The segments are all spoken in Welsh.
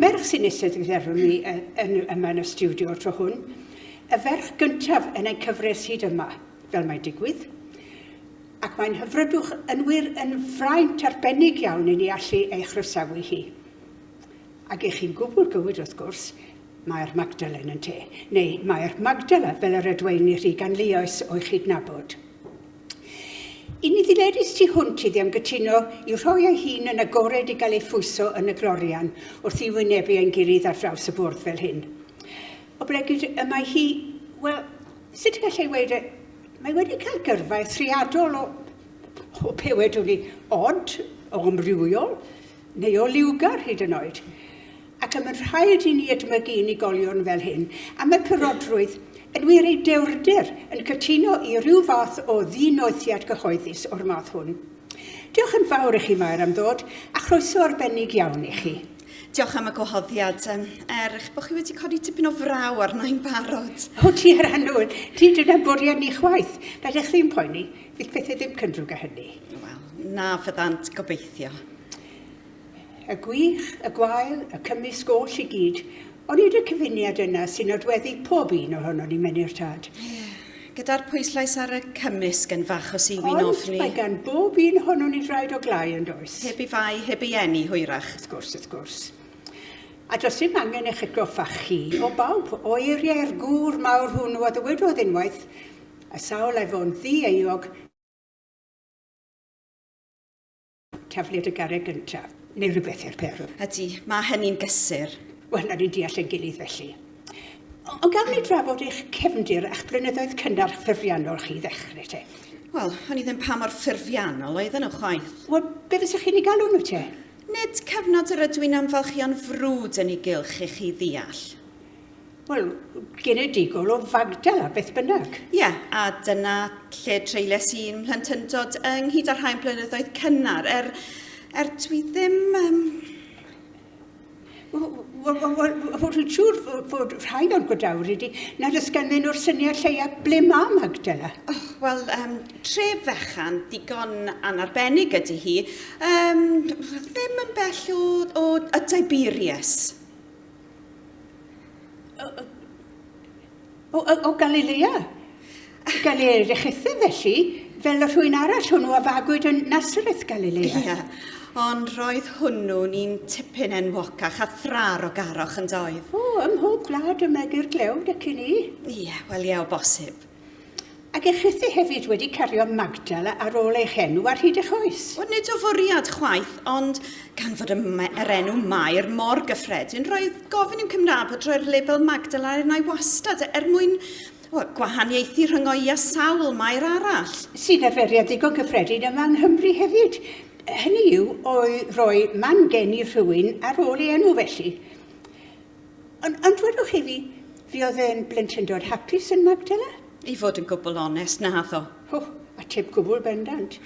Merch sy'n eistedd wrth efo mi yn, yn, yma yn y studio o'r tro hwn. Y ferch gyntaf yn ein cyfres hyd yma, fel mae'n digwydd ac mae'n hyfrydwch yn wir yn fraint arbennig iawn i ni allu ei chroesawu hi. Ac i chi'n gwbl gywir wrth gwrs, mae'r Magdalen yn te, neu mae'r Magdala fel yr edweini rhy ganlioes o'i chydnabod. I ni ddiledus tu hwnt iddi am gytuno i rhoi ei hun yn agored i gael ei phwyso yn y glorian wrth i wynebu ein gilydd ar draws y bwrdd fel hyn. O bregyd y mae hi, wel, sut y gallai weid e, mae wedi cael gyrfa eithriadol o, o be wedwn ni, od, o amrywiol, neu o liwgar hyd yn oed. Ac y mae'n rhaid i ni edmygu unigolion fel hyn, am y cyrodrwydd, yn wir ei dewrder, yn cytuno i ryw fath o ddinoethiad cyhoeddus o'r math hwn. Diolch yn fawr i chi, Mair, am ddod, a chroeso arbennig iawn i chi. Diolch am y gwahoddiad. Er eich bod chi wedi codi tipyn o fraw arno'n barod. O ti ar annwyl, ti dyna bwriad ni chwaith. Na ddechrau'n poeni. Bydd pethau ddim cyndrwg â hynny. Wel, na fyddant, gobeithio. Y gwych, y gwael, y cymysg oll i gyd. Ond nid y cyfuniad yna sy'n nodweddu pob un ohonon ni, Menyr Tad. Ie, gyda'r pwyslais ar y cymysg yn fach o siwyn ofni. Ond mae gan bob un ohonon ni draed o glai yn does. Heb i fai, heb i eni, hwyrach. Wrth gwrs, wrth gwrs. A does dim angen eich atgoffa chi o bawb o eiriau'r gŵr mawr hwnnw a ddywedodd unwaith, A sawl ef o'n ddi-euog yn tafliad y garreg gyntaf, neu rywbeth i'r peth? Ydy, mae hynny'n gysur. Wel, na ni'n deall ein gilydd felly. Ond gaf ni drafod eich cefndir a'ch blynyddoedd cynnar ffurfiannol chi i ddechrau te? Wel, o'n i ddim pa mor ffurfiannol oedden nhw chwaith. Wel, be fysa chi'n ei galw nhw te? Nid cyfnod yr ydw i'n amfalchio'n frwd yn ei gylch i chi ddeall. Wel, genedigol o Fagdal a beth bynnag. Ie, a dyna lle treiles i'n mhlentyndod ynghyd â'r rhain blynyddoedd cynnar, er, er dwi ddim... Um... Wel, dwi'n siŵr fod rhain o'r godawr ydy nad oes ganddyn nhw'r syniad lleia ble mae Magdala. Oh, Wel, um, tref fechan digon anarbennig ydy hi. Um, ddim yn bell o, o y Tiberius. O, o, o Galilea. Galilea Rechethyn, felly, fel y rhwy'n arall hwnnw a fagwyd yn Nazareth, Galilea. Ia, ond roedd hwnnw'n un tipyn enwocach a thrar o garoch yn doedd. O, ym mhob gwlad y megir glewd ac i ni. Ia, wel ia, o bosib. Ac eich rhythu hefyd wedi cario Magdal ar ôl eich enw ar hyd eich oes. Wel, nid o fwriad chwaith, ond gan fod y, yr enw Mair mor gyffredin, roedd gofyn i'm Cymraeg bod roi'r label Magdal ar enau wastad er mwyn well, gwahaniaethu rhyngo'i a sawl Mair arall. Sy'n arferiad ddigon cyffredin yma yng Nghymru hefyd. Hynny yw, o'i roi man geni rhywun ar ôl ei enw felly. Ond, ond dwedwch i fi, fi oedd e'n blentyndod hapus yn Magdala? I fod yn gwbl onest, naddo. O, a teb gwbl bendant.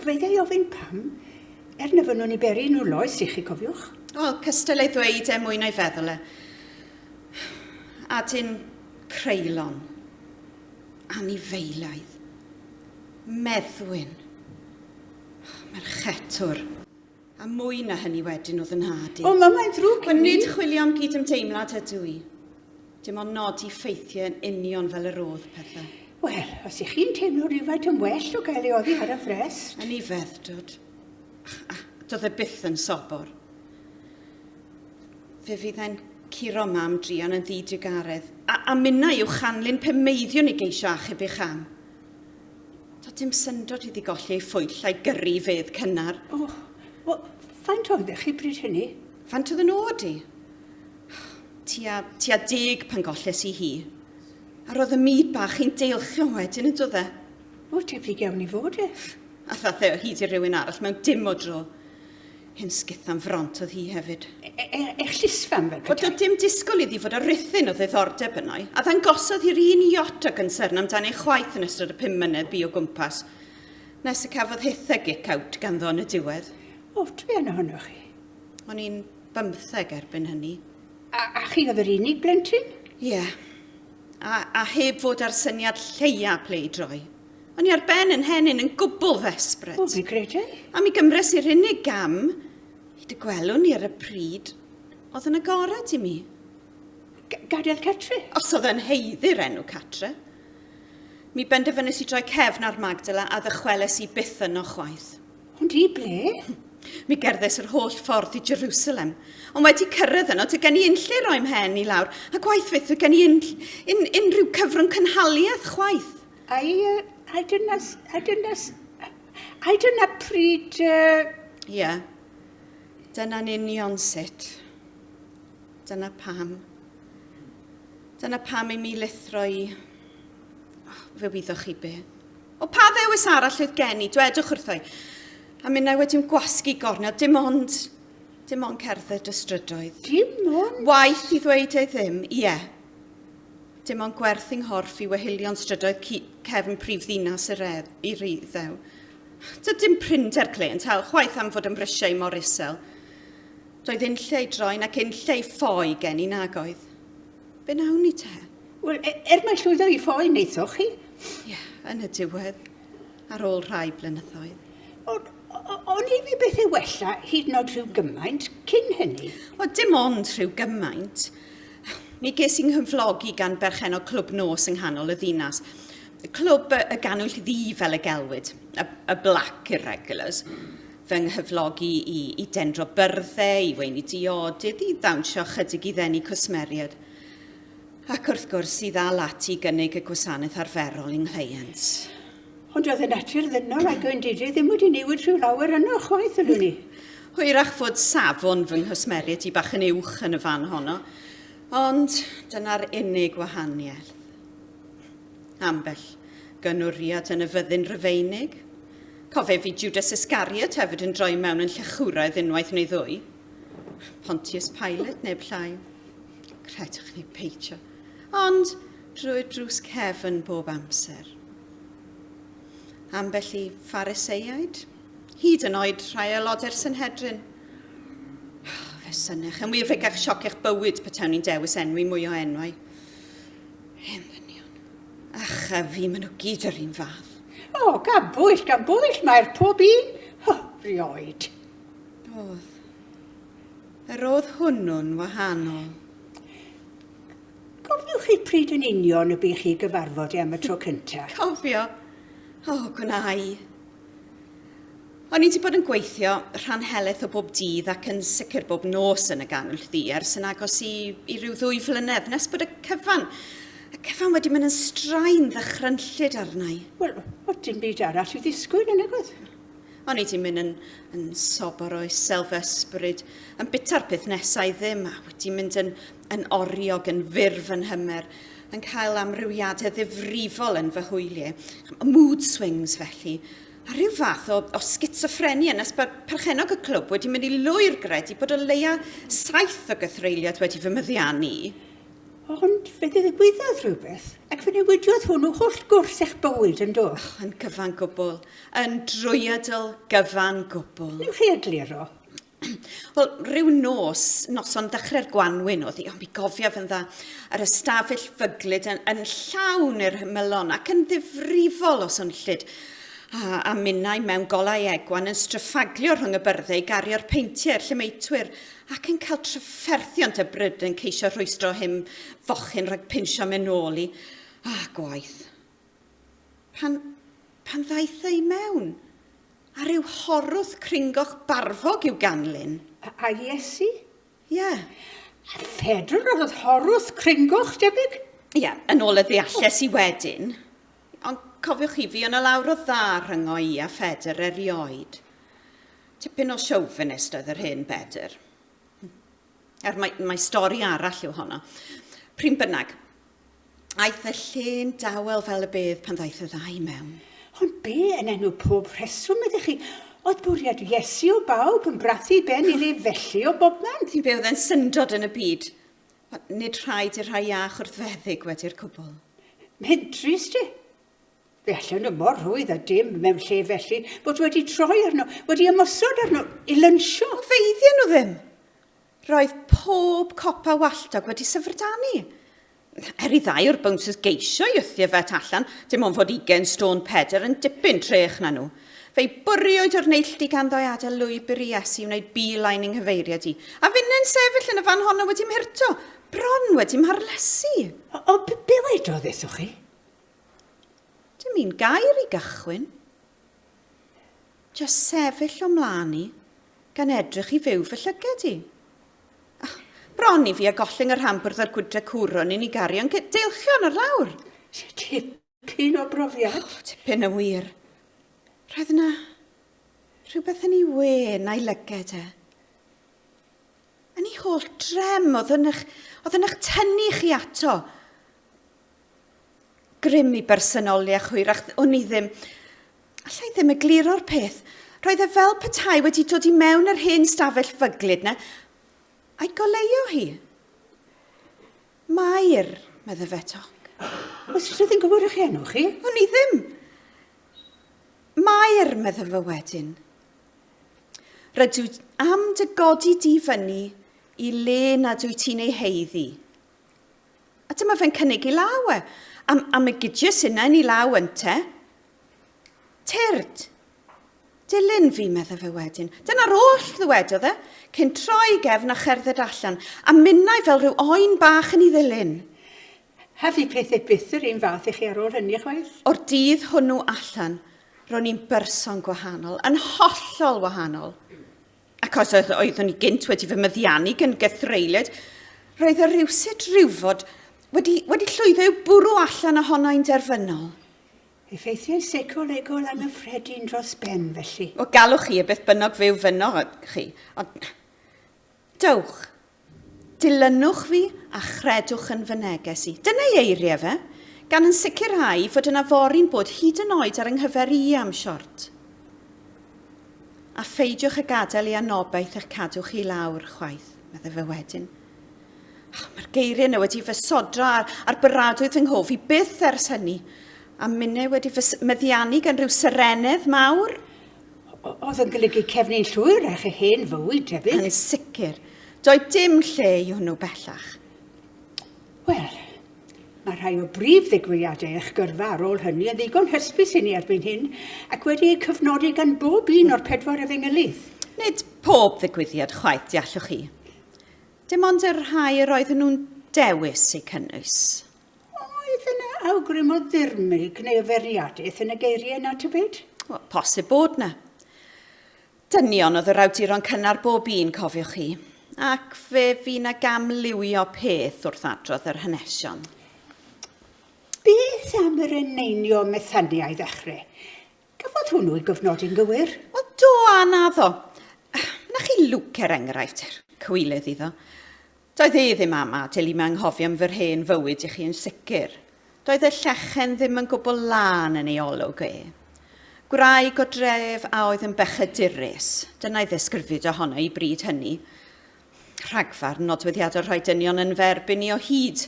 Feiddia i ofyn pam, er na fynnwn i beri nhw loes i chi, cofiwch. Wel, cystal ei ddweud e mwy na'i feddwl e. Adyn creulon. Anifeilaidd. Meddwyn. Merchetwr. A mwy na hynny wedyn o fy nhad i. O, mae mae'n ddrwg gen i. Nid chwilio am gydymdeimlad ydw i. Dim ond nodi ffeithiau yn union fel yr oedd pethau. Wel, os ych chi'n teimlo rhywfaint yn well o gael ei oddi ar y frest... Yn ei feddrod. A doedd e byth yn sobor. Fe fydd e'n curo mam druan yn ddi-drugaredd, a, a minnau i'w chanlyn pe meiddiwn i geisio achub eich am. Doedd dim syndod iddi golli ei phwyll a'i gyrru i fedd cynnar. O, wel, faint oeddech chi bryd hynny? Faint oedd yn ôd i? Tua, tua deg pan golles i hi. A roedd y myd bach i'n deilchion wedyn yn dod e. O, tebyg iawn i fod ef. A thathe o hyd i rywun arall mewn dim o dro. Hen sgith am front oedd hi hefyd. E, e, e llysfam fel petai. Oedd dim disgwyl iddi fod o rythyn o ddiddordeb yno i, a ddangosodd hi'r un iot o gynsyrn amdan ei chwaith yn ystod y pum mynedd bu o gwmpas, nes y cafodd hith a gic out ganddo yn y diwedd. O, dwi yn ohonoch chi. O'n i'n bymtheg erbyn hynny. A, a chi oedd yr unig blentyn? Ie. Yeah. A, a heb fod ar syniad lleia ple i droi. O'n i ar ben yn henyn yn gwbl ddesbryd. O, fi gredu. A mi gymres i'r unig gam i dy gwelwn i ar y pryd oedd yn agored i mi. G gadael Catri? Os oedd yn heiddi'r enw Catre. Mi benderfynus i droi cefn ar Magdala a ddychweles i byth yno chwaith. Ond i ble? Mi gerddes yr holl ffordd i Jerusalem, ond wedi cyrraedd yno, dy gen i unlle roi mhen i lawr, a gwaith fyth dy gen i un, un, unrhyw cyfrwng cynhaliaeth chwaith. I, uh, I don't know, I don't know, I don't know pryd... Ie. Uh... Yeah. Dyna'n union sut. Dyna pam. Dyna pam i mi lithro i... Oh, fe wyddoch chi be. O pa ddewis arall oedd gen i, dwedwch wrthoi. A mi na wedi'n gwasgu gornel, dim ond, dim ond cerdded y strydoedd. Dim ond? Waith i ddweud ei ddim, ie. Yeah. Dim ond gwerth yng nghorff i wehilion strydoedd cu- cefn prif ddinas yr edd- i Riddew. Doedd dim prinder clênt hel chwaith am fod yn brisiau i mor isel. Doedd unlle i droi'n ac unlle i ffoi gen i nag oedd. Be wnawn ni te? Wel, e- er mai llwyddo i ffoi wnaethoch chi. Ie, yn y diwedd. ar ôl rhai blynyddoedd. Ond o'n i fi beth ei wella hyd yn oed rhyw gymaint cyn hynny? Wel, dim ond rhyw gymaint. Mi ges i'n nghyflogi gan berchen o clwb nos yng nghanol y ddinas. Clwb y, y ganwyll ddi fel y gelwyd, y, y Black Irregulars. Fy nghyflogi i, i dendro byrddau, i weini diodydd, i ddawnsio chydig i ddenu cwsmeriaid. Ac wrth gwrs i ddal at i gynnig y gwasanaeth arferol i'n nghleient. Ond oedd y natur ddynol a gwendidau ddim wedi newid rhyw lawer yno chwaith, ydw ni. Hwyrach fod safon fy nghwsmeriaid i bach yn uwch yn y fan honno, ond dyna'r unig wahaniaeth. Ambell gynwriad yn y fyddin Rufeinig. Cofef i Judas Iscariot hefyd yn droi mewn yn llechwraidd unwaith neu ddwy. Pontius Pilate neb llai. Credwch neu peidio, ond drwy'r drws cefn bob amser. Ambell i Phariseiaid, hyd yn oed rhai aelodau'r Synhedrin. Fe synech yn wir fegach sioc eich bywyd petawn ni'n dewis enwi mwy o enwau. Hen ddynion. Ach, a fi, maen nhw gyd yr un fath. O, oh, gan bwyll, gan bwyll, mae'r pob un. Ho, rioed. Oedd. Yr oedd hwnnw'n wahanol. Cofiwch chi pryd yn union y bu chi gyfarfod i am y tro cynta? Cofio? O, gwna i. O'n i wedi bod yn gweithio rhan heleth o bob dydd ac yn sicr bob nos yn y gannwyll ddu ers yn agos i, i ryw ddwy flynedd nes bod y cyfan, y cyfan wedi mynd yn straen ddychrynllyd arna i. Wel, oedd dim byd arall i ddisgwyl yn nag oedd? O'n i di mynd yn, yn sobor o iselfysbryd, yn bita'r peth nesa i ddim, a wedi mynd yn, yn oriog, yn fyr fy nhymer, yn cael amrywiadau ddifrifol yn fy hwyliau, mood swings felly, a rhyw fath o, o schizophrenia nes bod perchenog y clwb wedi mynd i lwyr gred i bod o leia saith o gythreiliad wedi fy myddiannu. Ond fe ddigwyddodd rhywbeth, ac fe newidiodd hwnnw holl gwrs eich bywyd, yn do? Oh, yn gyfan gwbl, yn drwyadl gyfan gwbl. Ni'n chi egluro? Wel, rhyw nos, noson ddechrau'r gwanwyn oedd hi, ond mi gofia fy dda, yr ystafell fyglyd yn, yn llawn i'r hymylon ac yn ddifrifol o swnllyd a, a minnau mewn golau egwan yn stryffaglio rhwng y byrddau i gario'r peintiau i'r llemeitwyr ac yn cael trafferthiant y bryd yn ceisio rhwystro him fochyn rhag pinsio me nôl i, a gwaith. Pan, pan ddaeth ei mewn, a rhyw horwth cringoch barfog i'w ganlyn. A, a Iesu? Ie. Yeah. A Phedr oedd horwth cringoch, debyg? Ie, yeah, yn ôl y ddealles i wedyn. Ond cofiwch i fi, o 'na lawr o dda rhyngo i a Phedr erioed. Tipyn o chauvinist oedd yr hen Bedr. Er mae, mae stori arall yw honno. Pryn bynnag, aeth y llun dawel fel y bydd pan ddaeth y ddau mewn. Ond be yn enw pob rheswm ydych chi? Oedd bwriad Iesu o bawb yn brathu ben iddi felly o bobman? Ti'n byw oedd e'n syndod yn y byd. Nid rhaid i'r rhai iach wrthfeddyg wedi'r cwbl. Mae'n drist i. Fe allan y mor rwydd a dim mewn lle felly bod wedi troi arno, wedi ymosod arno i lynsio. O feiddian nhw ddim. Roedd pob copa walltog wedi syfrdanu. Er i ddau o'r bouncers geisio i ythu y fet allan, dim ond fod ugen stôn pedr yn dipyn trech na nhw. Fe'i bwriwyd o'r neilltu ganddo adael lwybr i Iesu wneud beeline yng nghyfeiriad i, a finnau'n sefyll yn y fan honno wedi mhyrto, bron wedi mharlysu. O, be wedodd wrthoch chi? Dim un gair i gychwyn. Just sefyll o mlaen i, gan edrych i fyw fy llyged i. Oh, bron i fi a gollyng y rhan bwrdd a'r gwydre cwrwn i ni garion deilchion ar lawr. Tipyn Cyn o brofiad. O, tipyn yn wir. Roedd yna rhywbeth yn ei wen a'i lyged e. Yn ei holl drem, oedd yn eich, oedd yn eich tynnu chi ato. Grym i bersonoliaeth hwyrach, o'n i ddim... Alla i ddim y gliro'r peth. Roedd e fel petai wedi dod i mewn yr hen stafell fyglyd na, a'i goleuo hi. Mair, medde fe toc. Oes rhywbeth yn gywir eich enw chi? Wn i ddim. Mair, medde fe wedyn. Rydw am dy godi di fyny i le nad wyt ti'n ei heiddi. A dyma fe'n cynnig i law e. Am, am y gydius yna yn ei law ynte? Tyrd! Dilyn fi, meddai fe wedyn. Dyna'r oll ddywedodd e, cyn troi gefn a cherdded allan, a minnau fel rhyw oen bach yn ei ddilyn. Hefyd pethau byth yr un fath i chi ar ôl hynny chwaith. O'r dydd hwnnw allan, ro'n i'n berson gwahanol, yn hollol wahanol. Ac os oedd oeddwn i gynt wedi fy myddiannu gan gythreiliaid, roedd y rhywsut rhywfod wedi, wedi llwyddo i'w bwrw allan ohono i'n derfynol. Effeithiau seicolegol anghyffredin dros ben, felly. O, gallwch chi, a beth bynnag fe ofynnoch chi, ond... Dewch, dilynwch fi a chredwch yn fy neges i. Dyna ei eiriau fe, gan yn sicrhau fod yna fori'n bod hyd yn oed ar 'y nghyfer i am siort. A pheidiwch â gadael i anobaith eich cadw chi i lawr, chwaith, meddai fe wedyn, Oh, Mae'r geiriau yna wedi fy sodra ar, ar byradwy fy nghof i byth ers hynny. A minnau wedi fy meddiannu gan rhyw serenedd mawr. Oedd yn golygu cefnu'n llwyr â chi hen fywyd, tebyg? Yn sicr. Doedd dim lle i hwnnw bellach. Wel, Mae rhai o brif ddigwyddiadau eich gyrfa ar ôl hynny yn ddigon hysbys i ni erbyn hyn, ac wedi eu cyfnodi gan bob un o'r pedwar efengylydd. Nid pob ddigwyddiad chwaith, deallwch chi. Dim ond y rhai yr oedden nhw'n dewis eu cynnwys. Oedd yna awgrym o ddirmyg neu o fwriadaeth yn y geiriau na tybed? Wel, posib bod yna. Dynion oedd yr awduron cynnar bob un, cofiwch chi, ac fe fu na gam liwio peth wrth adrodd yr hanesion. Beth am yr eneinio Methania i ddechrau? Cafodd hwnnw ei gofnodi'n gywir. O do, a naddo. Wna chi lwc er enghraifft, er. Cywilydd iddo. Doedd e ddim am adael i mi anghofio am fy rhen fywyd i chi yn sicr. Doedd y llechen ddim yn gwbl lân yn ei olwg e. Gwraig o dref a oedd yn bechadurus, dyna'i ddesgrifid ohono i bryd hynny. Rhagfarn nodweddiadol rhoi dynion yn fy erbyn i o hyd.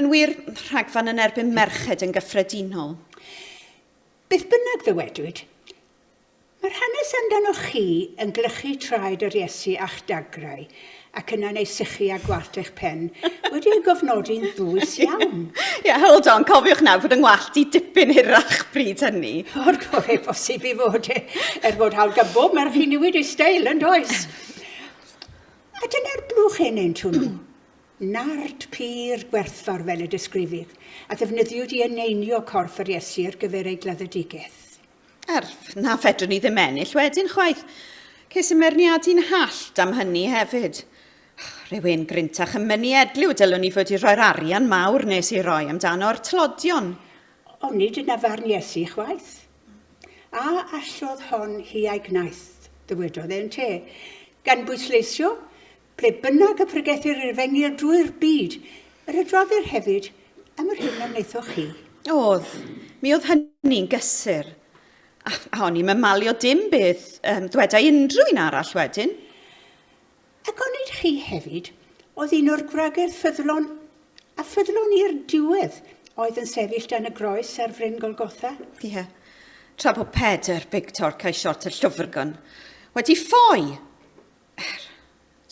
Yn wir, rhagfarn yn erbyn merched yn gyffredinol. Beth bynnag ddywedwyd, mae'r hanes amdanoch chi yn glychu traed yr Iesu a'ch dagrau, ac yna neu sychu a gwallt eich pen, wedi ei gofnodi'n ddwys iawn. Ie, hold on, cofiwch nawr fod yng ngwallt i dipyn hirach bryd hynny. O'r gore posib i fod e, er fod hawl gan bob merch i niwid ei steil, yn does? A dyna'r blwch hen enw nhw. Nard pur gwerthfawr fel y disgrifir a ddefnyddiwyd i eneinio corff yr Iesu ar gyfer ei gladdedigaeth. Er na fedrwn i ddim ennill wedyn chwaith, ces i merniadu'n hallt am hynny hefyd. Rhywun gryntach yn mynnu edliw dylwn i fod i roi'r arian mawr nes ei roi amdano o'r tlodion. Ond nid dyna farn Iesu chwaith. A allodd hon hi a'i gwnaeth, ddywedodd e yn te, gan bwysleisio Ble bynnag y pregethir i'r fenni ar drwy'r byd, yr adroddir hefyd am yr hyn a wnaethoch chi. Oedd, mi oedd hynny'n gysur. A, a o'n i'n mymalio dim beth um, ddweda unrhyw un arall wedyn. Ac onid chi hefyd oedd un o'r gwragedd ffyddlon a ffyddlon i'r diwedd oedd yn sefyll dan y groes ar fryn Golgotha? Ie. Yeah. Tra bod Pedr, Big Torc a'i siort y llwfrgon wedi ffoi! Er,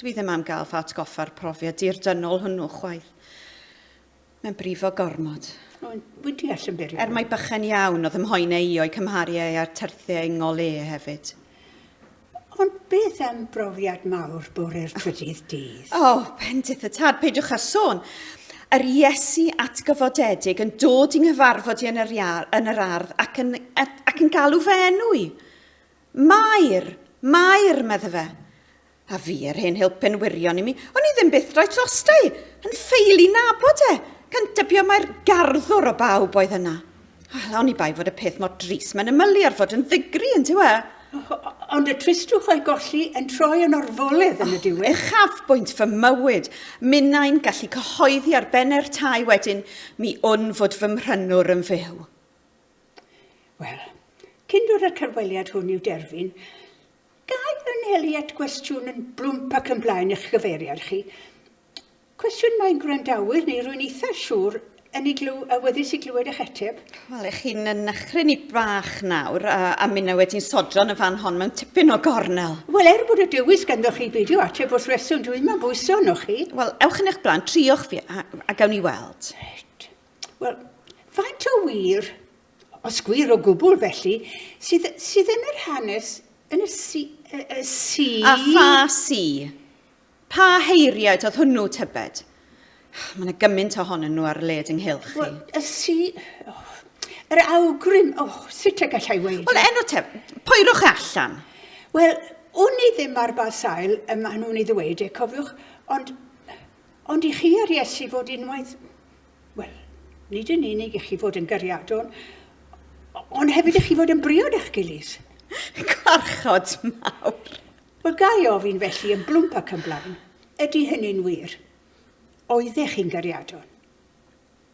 dwi ddim am gael fy atgoffa'r profiad dirdynol hwnnw chwaith. Mae'n brifo gormod. Wy'n deall yn byr. Er mae bychen iawn oedd ymhoen ei o'i cymharu ei a'r terthiau ingol e hefyd. Ond beth am brofiad mawr bore'r trydydd dydd? O, oh, bendith y tad, peidiwch â sôn. Yr Iesu atgyfodedig yn dod i nghyfarfod i yn yr, iar, yn yr ardd ac yn, ac yn galw fy enw i. Mair! Mair! medde fe. A fi a'r hen helpen wirion i mi, o'n i ddim byth roi drosta i, yn ffeil i nabod e, gan dybio mai'r garddwr o bawb oedd yna. Wel, o'n i bai fod y peth mor dris mae'n ymylu ar fod yn ddigri, yn dyw e? Ond y tristwch o'i golli yn troi yn orfoledd yn y diwedd. Uchafbwynt fy mywyd. Minnau'n gallu cyhoeddi ar benne'r tai wedyn, mi wn fod fy mhrynwr yn fyw. Wel, cyn dod â'r cyfweliad hwn i'w derfyn, gai anelu at gwestiwn yn blwmp ac yn blaen eich gyfeiriad chi. Cwestiwn mae gwrandawyr neu rwy'n eitha siŵr yn ei glyw, awyddus i glywed eich ateb. Wel, ych chi'n yn achrin i bach nawr, a, a minna wedi'n sodron y fan hon mewn tipyn o gornel. Wel, er bod y dewis ganddo chi beidio ateb wrth reswm, dwi'n ma'n bwyso arnoch chi. Wel, ewch yn eich blaen, triwch fi, a, a gawn ni weld. Reit. Wel, faint o wir, os gwir o gwbl felly, sydd, sydd yn yr hanes yn y si... Y, y si... A pha si? Pa heiriaid oedd hwnnw, tybed? Mae yna gymaint ohonyn nhw ar led ynghylch chi. Wel, y si... Oh, yr awgrym, oh, sut y gallai weid? Wel, enw te, poerwch e allan. Wel, wn i ddim ar ba sail y maen nhw'n ei ddweud e, cofiwch, ond Ond i chi a'r Iesu fod unwaith, wel, nid yn unig i chi fod yn gariadon, ond hefyd i chi fod yn briod â'ch gilydd. Gwarchod mawr. Wel, ga i ofyn felly yn blwmp ac yn blaen, ydy hynny'n wir? Oeddech chi'n gariadon?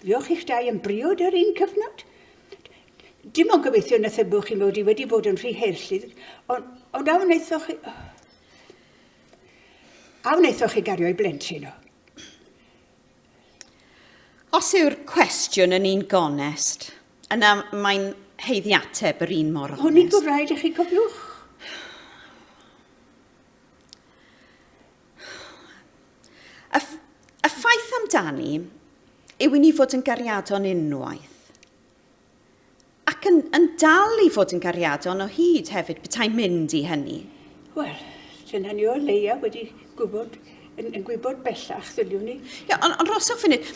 Fuoch chi'ch dau yn briod ar un cyfnod? Dim ond gobeithio na thybwch chi mod i wedi bod yn rhy heirllydd, ond, ond a wnaethoch chi... A wnaethoch chi gario i blentyn o? Os yw'r cwestiwn yn un gonest, yna mae'n heiddi ateb yr un mor onest. Hwn i'n bod rhaid i chi cofiwch. Y, y ffaith amdani yw i ni fod yn gariadon unwaith. Ac yn, yn dal i fod yn gariadon o hyd hefyd, beta'n mynd i hynny. Wel, sy'n hynny o leia wedi gwybod, yn, yn gwybod bellach, ddyliwn ni. Ia, ond on rhoswch funud,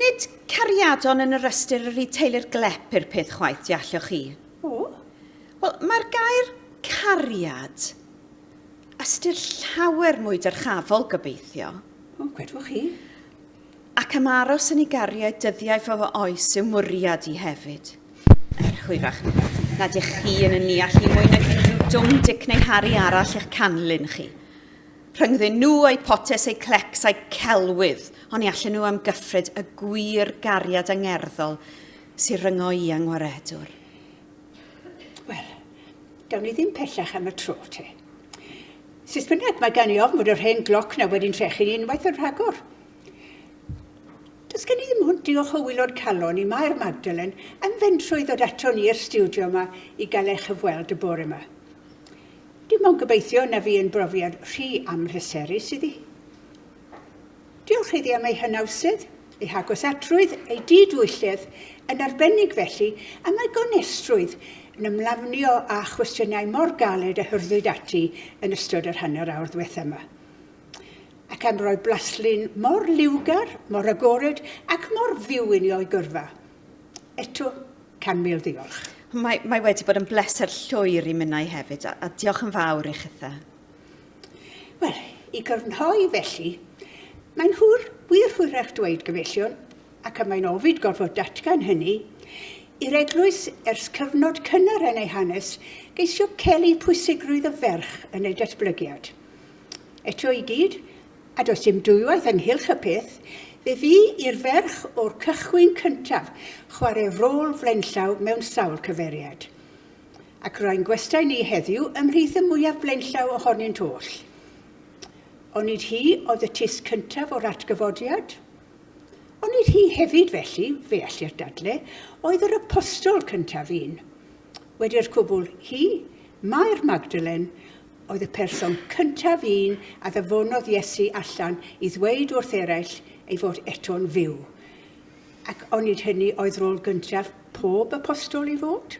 nid cariadon yn yr ystyr yr i teulu'r glep i'r peth chwaith, di allwch chi? O? Wel, mae'r gair cariad ystyr llawer mwy dyrchafol, gobeithio. O, gwedwch chi. Ac am aros yn ei gariad dyddiau fy fy oes yw mwriad i hefyd. Er hwyrach na dych chi yn y neall i mwy nag unrhyw dwm dic neu Harry arall eich canlyn chi. Rhyngddyn nhw a'i potes, ei clecs a'i celwydd, ond ni allen nhw amgyffred y gwir gariad angerddol sy'n ryngo i angwaredwr. Wel, gawn ni ddim pellach am y tro, te. Sut bynnag, mae gan i ofn fod yr hen gloc na wedi'n trechu'n unwaith yn rhagor. Does gen i ddim hwnt diolch o wylod calon i Mair Magdalen am fentro i ddod aton ni i'r stiwdio yma i gael ei chyfweld y bore yma. Dim ond gobeithio na fu yn brofiad rhy amhleserus iddi. Diolch iddi am ei hynawsydd, ei hagosatrwydd, ei didwylledd, yn arbennig felly, am ei gonestrwydd yn ymlafnio â chwestiynau mor galed a hyrddwyd ati yn ystod yr hanner awr ddiwetha' yma, ac am roi blaslun mor liwgar, mor agored ac mor fyw inni o'i gyrfa. Eto, can mil ddiolch. Mae, mae wedi bod yn bleser llwyr i minnau hefyd, a, a diolch yn fawr i chithe. Wel, i grynhoi felly, mae'n hwyr, wir hwyrach dweud gyfellion, ac y mae'n ofid gorfod datgan hynny, i'r eglwys ers cyfnod cynnar yn ei hanes geisio celu pwysigrwydd y ferch yn ei datblygiad. Eto i gyd, a does dim dwywaith ynghylch y peth, fe fu i'r ferch o'r cychwyn cyntaf chwarae rôl flaenllaw mewn sawl cyfeiriad. Ac rwy'n gwestai ni heddiw ymhlith y mwyaf blaenllaw ohonynt oll. Onid hi oedd y tis cyntaf o'r atgyfodiad? Onid hi hefyd felly, fe ellir dadle, oedd yr apostol cyntaf un? Wedi'r cwbl, hi, Mair Magdalen, oedd y person cyntaf un a ddyfonodd Iesu allan i ddweud wrth eraill ei fod eto'n fyw. Ac onid hynny oedd rôl gyntaf pob apostol i fod?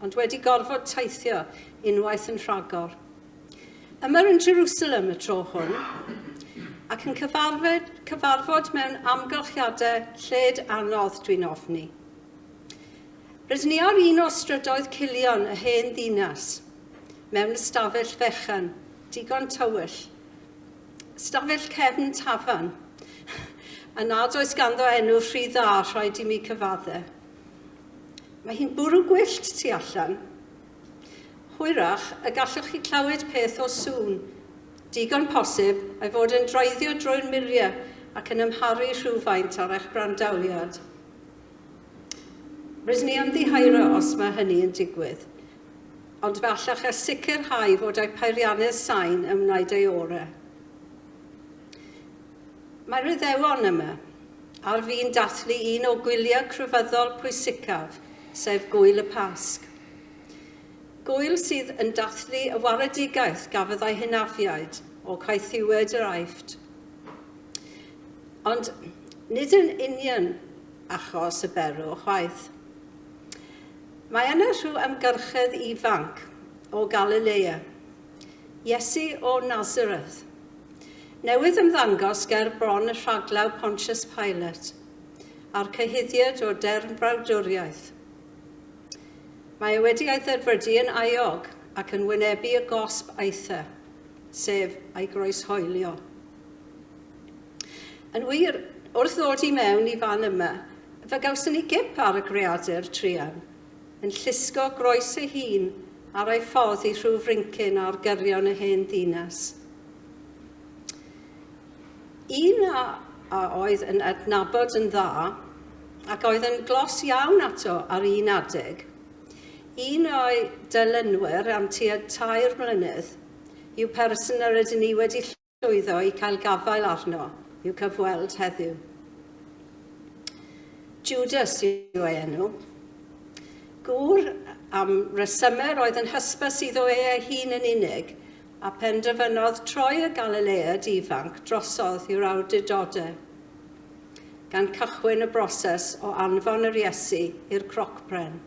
ond wedi gorfod teithio unwaith yn rhagor. Yma yn Jerusalem y tro hwn, ac yn cyfarfod, cyfarfod mewn amgylchiadau lled anodd, dwi'n ofni. Rydyn ni ar un o strydoedd cilion y hen ddinas, mewn ystafell fechan, digon tywyll, stafell cefn tafan, a nad oes ganddo enw rhy dda rhaid i mi cyfadde. Mae hi'n bwrw gwyllt tu allan. Hwyrach y gallwch chi clywed peth o sŵn, digon posib, ei fod yn droeddio drwy'r muriau ac yn amharu rhywfaint ar eich brandawliad. Rydyn ni ymddiheuro os mae hynny yn digwydd, ond fe allech chi sicrhau fod eich peiriannydd sain yn wneud ei orau. Mae'r Iddewon yma, ar fin dathlu un o gwyliau crefyddol pwysicaf, sef Gŵyl y Pasg. Gŵyl sydd yn dathlu y waredigaeth gafodd ei hynafiaid o caethiwed yr Aifft. Ond nid yn union achos y berw chwaith. Mae yna rhyw amgyrchedd ifanc o Galilea Iesu o Nazareth, newydd ymddangos ger bron y rhaglaw Pontius Pilate, a'r cyhuddiad o derfnfrawdwriaeth. Mae e wedi ei dderfydu yn aiog ac yn wynebu y gosb aethe, sef ei groeshoelio. Yn wir, wrth ddod i mewn i fan yma, fe gawson ni gip ar y greadur truan, yn llusgo groes ei hun ar ei ffordd i rhyw frincyn ar gyrion y hen ddinas. Un a, a oedd yn adnabod yn dda ac oedd yn glos iawn ato ar un adeg, un o'i dylynwyr am tua tair mlynedd, yw person yr ydyn ni wedi llwyddo llwyddo i cael gafael arno i'w cyfweld heddiw. Judas yw ei enw. Gŵr am resymau roedd yn hysbys iddo e ei hun yn unig, a penderfynodd troi y Galileaid ifanc drosodd i'r awdurdodau, gan cychwyn y broses o anfon yr Iesu i'r crocbren.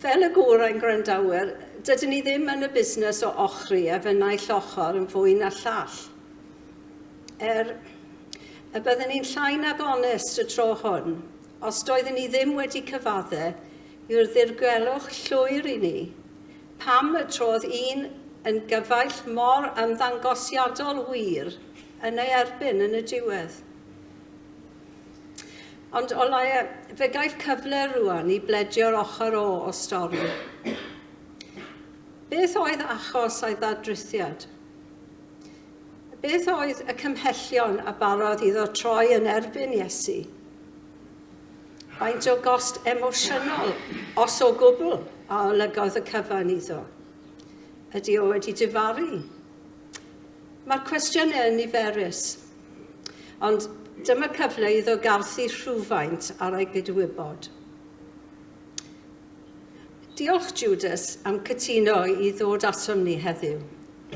Fel y gorau'n gwrandawyr, dydyn ni ddim yn y busnes o ochri ef yn naill ochr yn fwy na'r llall. Er y bydden ni'n llai nag onest y tro hwn, os doedden ni ddim wedi cyfadde yw'r ddirgelwch llwyr i ni. Pam y trodd un yn gyfaill mor ymddangosiadol wir yn ei erbyn yn y diwedd? Ond o laia, fe gaiff cyfle rwan i bledio'r ochr o o stori. Beth oedd achos a'i ddadrithiad? Beth oedd y cymhellion a barodd iddo troi yn erbyn Iesu? Faint o gost emosiynol, os o gwbl, a olygodd y cyfan iddo? Ydy o wedi difaru? Mae'r cwestiynau yn niferus, Ond dyma cyfle iddo garthu rhywfaint ar ei gydwybod. Diolch, Judas, am cytuno i ddod atom ni heddiw.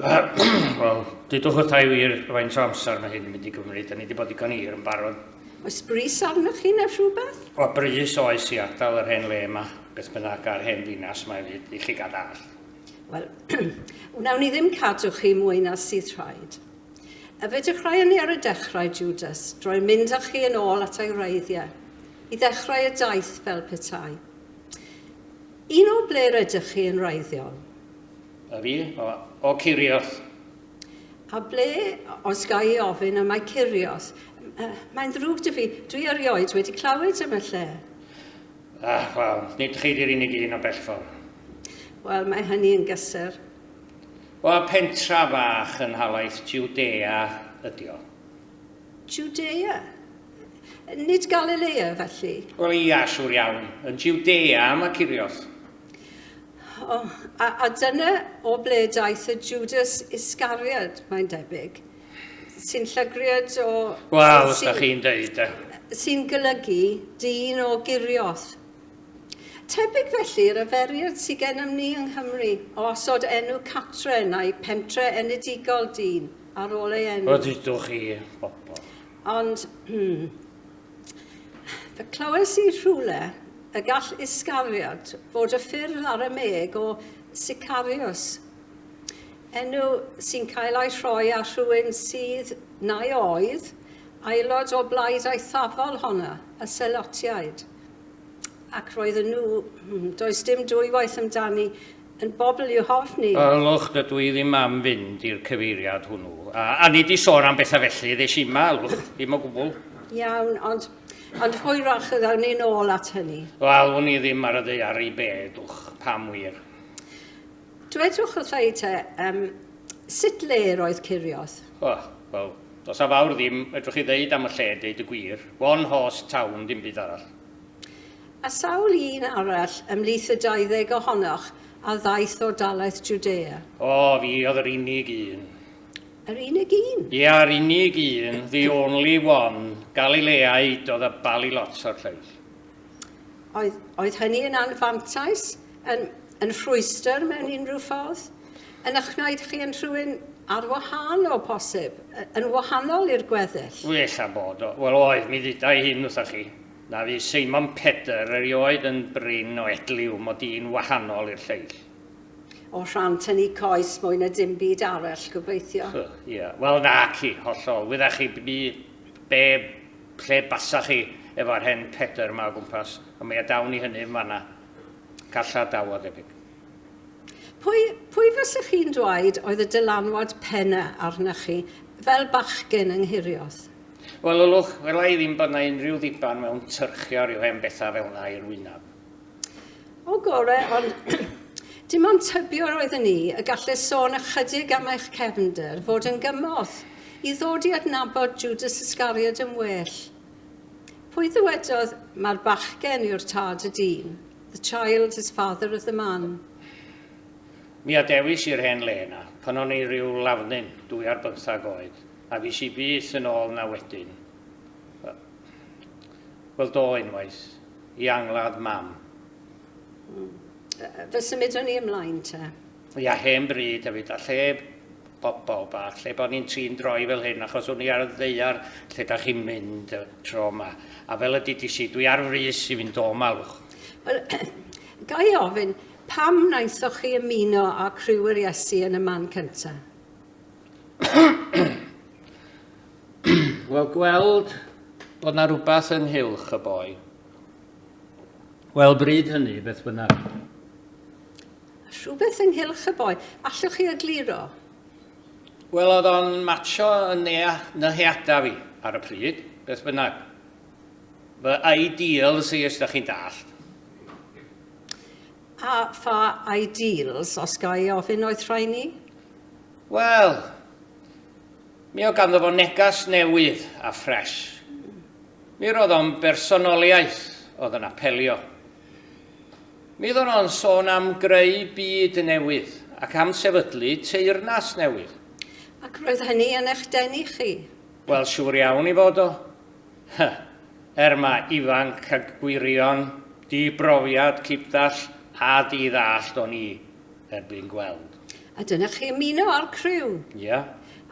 Wel, dydwch wrtha i wir faint o amser mae hyn yn mynd i gymryd, a ni wedi bod digon hir yn barod. Oes bris arnoch chi neu rhywbeth? O, bris oes i ardal yr hen le yma, beth bynnag a'r hen ddinas mae fyd i chi gadall. Wel, wnawn ni ddim cadw chi mwy na sydd rhaid. A fe dechreuon ni ar y dechrau, Jwdas, drwy mynd â chi yn ôl at ei wreiddiau, i ddechrau y daith fel petai. Un o ble rydych chi yn wreiddiol? A fi, o, o Curios. A ble, os ga i ofyn, y mae Curios? Mae'n ddrwg dy fi, dwi erioed wedi clywed am y lle. Ah, wel, nid chi di'r unig un o bellfor. Wel, mae hynny yn gysur. Wel, pentra fach yn nhalaith Jiwdea ydi o. Jiwdea? Nid Galilea, felly? Wel, ia, siŵr iawn. Yn Jiwdea, mae Cirios. O, a, a dyna o ble daeth y Judas Iscariad, mae'n debyg, sy'n llygriad o... Wel, os da chi'n deud, de. Sy'n golygu, dyn o Girios. Tebyg felly i'r yferiad sy gennym ni yng Nghymru o osod enw catre neu pentre enedigol dyn ar ôl ei enw. Rydych chi, bobl. Ond, hmm, fe clywais i rhywle y gall Iscariot fod y ffurf Aramëeg o Sicarius, enw sy'n cael ei rhoi ar rhywun sydd, neu oedd, aelod o blaid eithafol honno, y Selotiaid. ac roedden nhw, hmm, does dim dwywaith amdani, yn bobl i'w hofni. Ylwch, dydw i ddim am fynd i'r cyfeiriad hwnnw. A, a nid i sôn am bethau felly, ddeis i yma, ylwch, ddim o gwbl. Iawn, ond, ond hwyrach y gawn ni'n ôl at hynny. Wel, wn i ddim ar y ddear i be, dwch, pam wir. Dwedwch wrtha i te, yym, sut le yr oedd Ceirioth? O, wel, does a fawr ddim fedrwch chi ddeud am y lle, deud y gwir. One horse town, dim byd arall. A sawl un arall ymhlith y dauddeg ohonoch a ddaeth o dalaeth Jwdea? O, fi oedd yr unig un. Yr unig un? Ia, yr unig un, the only one, Galileaid oedd y bali lot o'r lleill. Oedd, oedd hynny yn anfantais? Yn, yn rhwystr mewn unrhyw ffordd? Yn eich gwneud chi yn rhywun ar wahân o posib, yn wahanol i'r gweddill? Wy ella bod o. Wel oedd, mi ddudai hyn wrthoch chi, na fu Seimon Pedr erioed yn brin o edliw mod i'n wahanol i'r lleill. O rhan tynnu coes mwy na dim byd arall, gobeithio. Hy, ia. Wel na ci, hollol. Wydda chi bni, be, lle basa chi efo'r hen Pedr yma o gwmpas, ond mi adawn ni hynny yn fanna. Gallai daw o debyg. Pwy, pwy fysa chi'n dweud oedd y dylanwad penna arna chi fel bachgen yng Nghirioth? Wel, Lwlwch, wela i ddim bod na unrhyw ddiban mewn tyrchio rhyw hen betha fel na i'r wynaf. O gore, ond dim ond tybio roedden ni y gallu sôn ychydig am eich cefnder fod yn gymorth i ddod i adnabod Judas Iscariod yn well. Pwy ddywedodd, Mae'r bachgen yw'r tad y dyn, the child is father of the man? Mi adewis i'r hen le yna, pan o'n i ryw lafnyn, dwy ar bymthag oed, a fues i byth yn ôl yna wedyn. Wel, do, unwaith, i angladd Mam. Fe symudwn ni ymlaen te. Fi a hen bryd hefyd, a lle bobl bach, lle bod ni'n trin droi fel hyn, achos o'n i ar y ddeiar lle da chi'n mynd y tro yma. A fel y didis i, dwi ar frys i fynd o malwch. Wel, ga i ofyn, pam naethoch chi ymuno â criw yr Iesu yn y man cynta? Wel, gweld bod na rhywbeth ynghylch y boi. Wel, bryd hynny, beth bynnag. Rhywbeth ynghylch y boi. Allwch chi egluro? Wel, oedd o'n matsio yn nea- nyheada fi ar y pryd, beth bynnag. Fy ideals i, os da chi'n dallt. A pha ideals, os ga i ofyn, oedd rhai ni? Wel, mi oedd ganddo fo negas newydd a ffres. Mi roedd o'n bersonoliaeth oedd yn apelio Mi oeddwn o'n sôn am greu byd newydd ac am sefydlu teyrnas newydd. Ac roedd hynny yn eich denu chi? Wel, siŵr iawn i fod o. Hy, er mae ifanc a gwirion, di-brofiad, cipdall a di-ddallt o'n i, er bu'n gweld. A dyna chi ymuno â'r criw? Ia.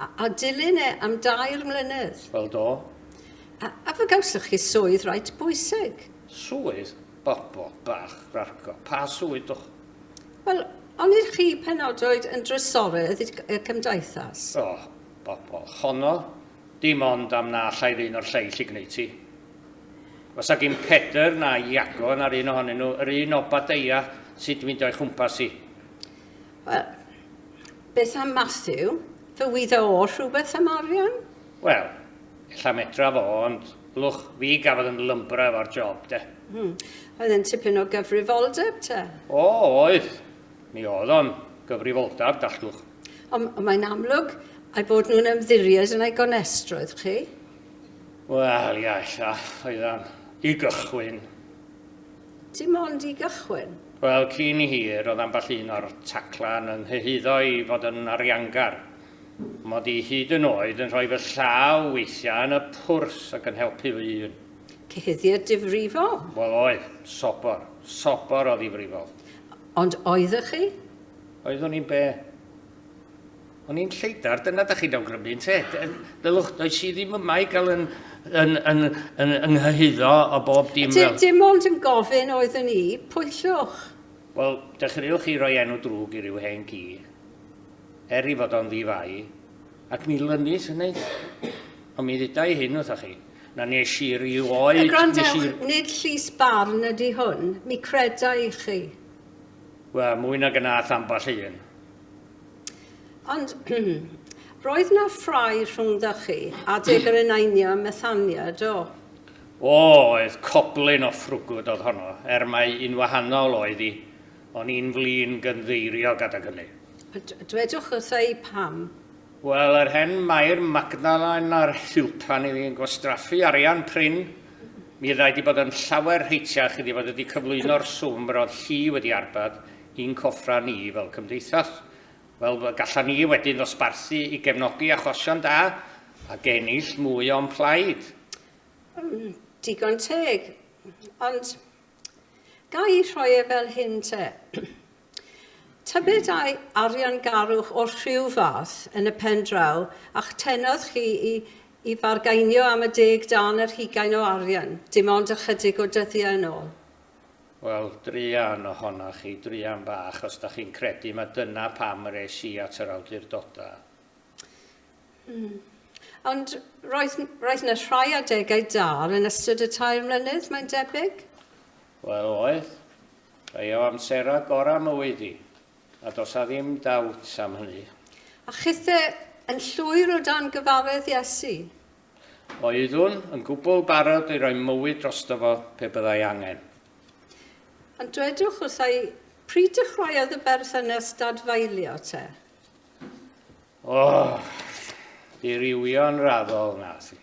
A, a dilyn e am dair mlynedd? Wel, do. A, a fe gawsoch chi swydd reit bwysig? Swydd bobol bach ragor. Pa swydd dwch? Wel, on ydych chi penodoed yn drysoredd y Cymdeithas? O, bobol honno, dim ond am na allai ddyn o'r lleill i gneud ti. Os a gin Pedr na Iago na'r un ohonyn nhw yr un Obadeia sut mynd o'i chwmpas i? Wel, beth am Matthew? Fe wydda o rhywbeth am arian? Wel, Ella medra fo, ond lwch fi gafodd yn lymbra efo'r job, de. Hmm. Oedd e'n tipyn o gyfrifoldeb, te? O, oedd. Mi oedd o'n gyfrifoldab, dalltwch. Ond mae'n amlwg ei bod nhw'n ymddiried yn ei gonestrwydd, chi? Wel, ia, ella, oeddan. I gychwyn. Dim ond i gychwyn? Wel, cyn i hir, oedd ambell un o'r taclan yn nhyhuddo i fod yn ariangar. Mod i hyd yn oed yn rhoi fy llaw weithiau yn y pwrs ac yn helpu fy hun. Cyhuddiad difrifol? Wel oedd, sobor, sobor o ddifrifol. Ond oeddech chi? Oeddwn i'n be? O'n i'n lleidar, dyna da chi'n awgrymu, ynte? Ddylwch, does i ddim yma i gael yn, yn, yn, yn, yn nghyhyddo o bob dim fel... Dim ond yn gofyn oeddwn i, pwyllwch. Wel, dechreuwch chi roi enw drwg i ryw hen gi. er ei fod o'n ddi-fai, ac mi lynnis hynny. Ond mi dduda i hyn wrthoch chi, na wnes i rioed... Gwrandewch, nid llys barn ydy hwn, mi creda i chi. Wel, mwy nag yna a'th ambell un. Ond, roedd 'na ffrae rhwngddoch chi a Dug yr Eneinio ym Methania, do? O, oedd, coblyn o ffrwgwd oedd honno, er mai un wahanol oedd hi. O'n i'n flin gynddeiriog adag hynny. Dwedwch wrtha i pam. Wel, yr hen Mair Magdalen a'r Hillpan iddi yn gwastraffu arian prin. Mi ddai di bod yn llawer rheitiach iddi fod wedi cyflwyno'r swm yr oedd hi wedi arbad i'n coffra ni fel cymdeithas. Wel, gallan ni wedyn ddosbarthu i gefnogi achosion da a genill mwy o'n plaid. Digon teg. Ond Ga i rhoi e fel hyn te? Tybed ai ariangarwch o rhyw fath yn y pen draw a'ch tenodd chi i i fargainio am y deg dân yr hugain o arian, dim ond ychydig o dyddiau yn ôl? Wel, druan ohonoch chi, druan bach, os da chi'n credu mai dyna pam yr es i at yr awdurdodau. Mm. Ond roedd, roedd yna rhai adegau dal yn ystod y tair mlynedd, mae'n debyg? Wel, oedd. Rhai o amserau gorau mywyd i, a dos a ddim dawt am hynny. A chithe yn llwyr o dan gyfaredd Iesu? Oeddwn yn gwbl barod i roi mywyd drosto fo pe byddai angen. Ond dwedwch wrthai, pryd dechreuodd y berthynas dadfaelio te? O, dirywio'n raddol, na si.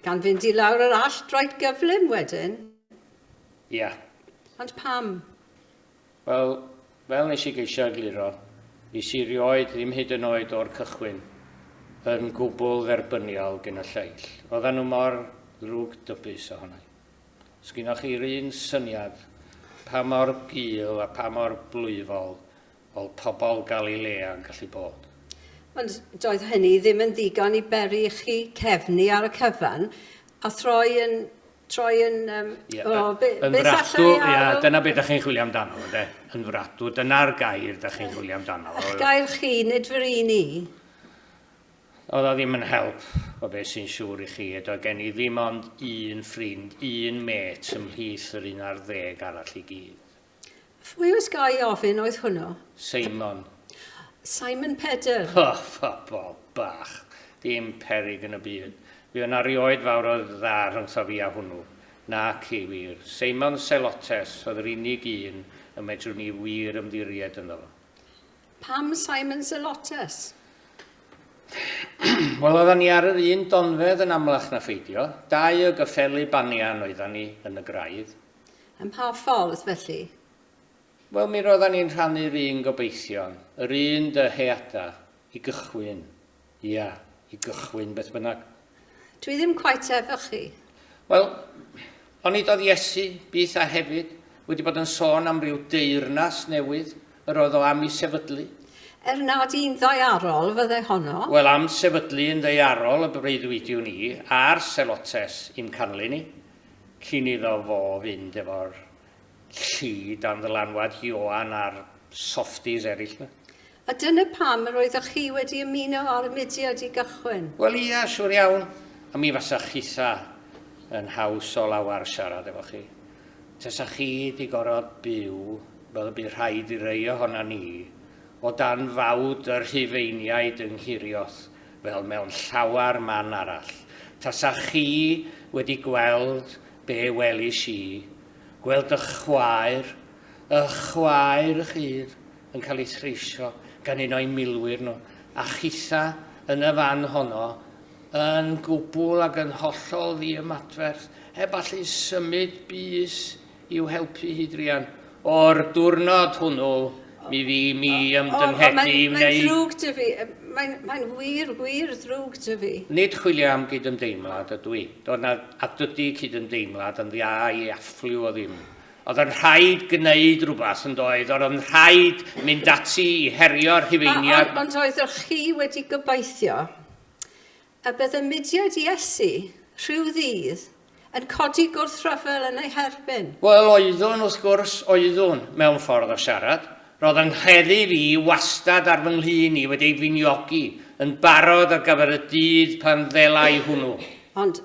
Gan fynd i lawr yr allt roed gyflym wedyn? Ia. Ond pam? Wel, fel nes i geisio egluro, nes i rioed ddim hyd yn oed o'r cychwyn yn gwbl dderbyniol gen y lleill. Oedden nhw mor ddrwg dybus ohonai. Sgynnoch chi'r un syniad pa mor gul a pa mor blwyfol Oedd pobl Galilea yn gallu bod. Ond doedd hynny ddim yn ddigon i beri i chi cefnu ar y cyfan, a throi yn... troi yn... Um, yeah, o, be, yn beth fratw, allai yeah, dyna beth ydych chi'n chwilio amdano, ynddo? Yn fratw, dyna'r gair ydych chi'n chwilio amdano. Eich gair chi, nid fy un ni. Oedd o ddim yn help o beth sy'n siŵr i chi. Edo gen i ddim ond un ffrind, un met ymhlith yr un ar ddeg arall i gyd. Phwy, os ga i ofyn, oedd hwnnw? Seimon. Simon Pedr. O, phobol bach. Dim peryg yn y byd. Fu yna rioed fawr o dda rhyngtho fi a hwnnw. Naci, wir. Seimon Selotes oedd yr unig un y medrwn ni wir ymddiried ynddo fo. Pam Simon Selotes? Wel, oeddan ni ar yr un donfedd yn amlach na pheidio. Dau o gyffeli banian oeddan ni yn y graidd. Ym mha ffordd, felly? Wel, mi roeddan ni'n rhannu'r un gobeithion, yr un dyheada', i gychwyn. Ia, i gychwyn, beth bynnag. Dwi ddim cweit efo chi. Wel, onid oedd Iesu, byth a hefyd, wedi bod yn sôn am ryw deyrnas newydd yr oedd o am i sefydlu? Er nad un ddaearol fyddai honno. Wel, am sefydlu un ddaearol y breuddwydiwn i, a'r selotes, i'm canlyn i. Cyn iddo fo fynd efo'r llu dan ddylanwad Ioan a'r softies eraill 'ma. A dyna pam yr oeddech chi wedi ymuno â'r mudiad i gychwyn? Wel ia, siŵr iawn. A mi fasa chitha yn haws o lawar siarad efo chi. Tasa chi 'di gorod byw fel y bu rhaid i rei ohonan ni o dan fawd y Rhufeiniaid yng Nghirioth, fel mewn llawer man arall. Tasa chi wedi gweld be welis i, gweld ych chwaer, ych chwaer ych hun, yn cael ei threisio gan un o'i milwyr nhw, a chitha yn y fan honno, yn gwbl ac yn hollol ddiymadferth, heb allu symud bys i'w helpu hi druan. O'r diwrnod hwnnw, mi fu mi ymdynghedi i wneud... Mae'n ddrwg dy fi. Mae'n mae wir, wir ddrwg dy fi. Nid chwilio am gydymdeimlad ydw i. Doedd na, a dydy cydymdeimlad yn dda i affliw o ddim. Oedd yn rhaid gwneud rhywbeth yn doedd, oedd yn rhaid mynd ati i herio'r Rhufeiniaid... Ond oedd chi wedi gobeithio A bydd y mudiad Iesu, rhyw ddydd, yn codi gwrthryfel yn ei herbyn? Wel, oeddwn, wrth gwrs, oeddwn, mewn ffordd o siarad. Roedd yng ngheddi fi wastad ar fy nglun i wedi ei finiogi yn barod ar gyfer y dydd pan ddelai hwnnw. Ond,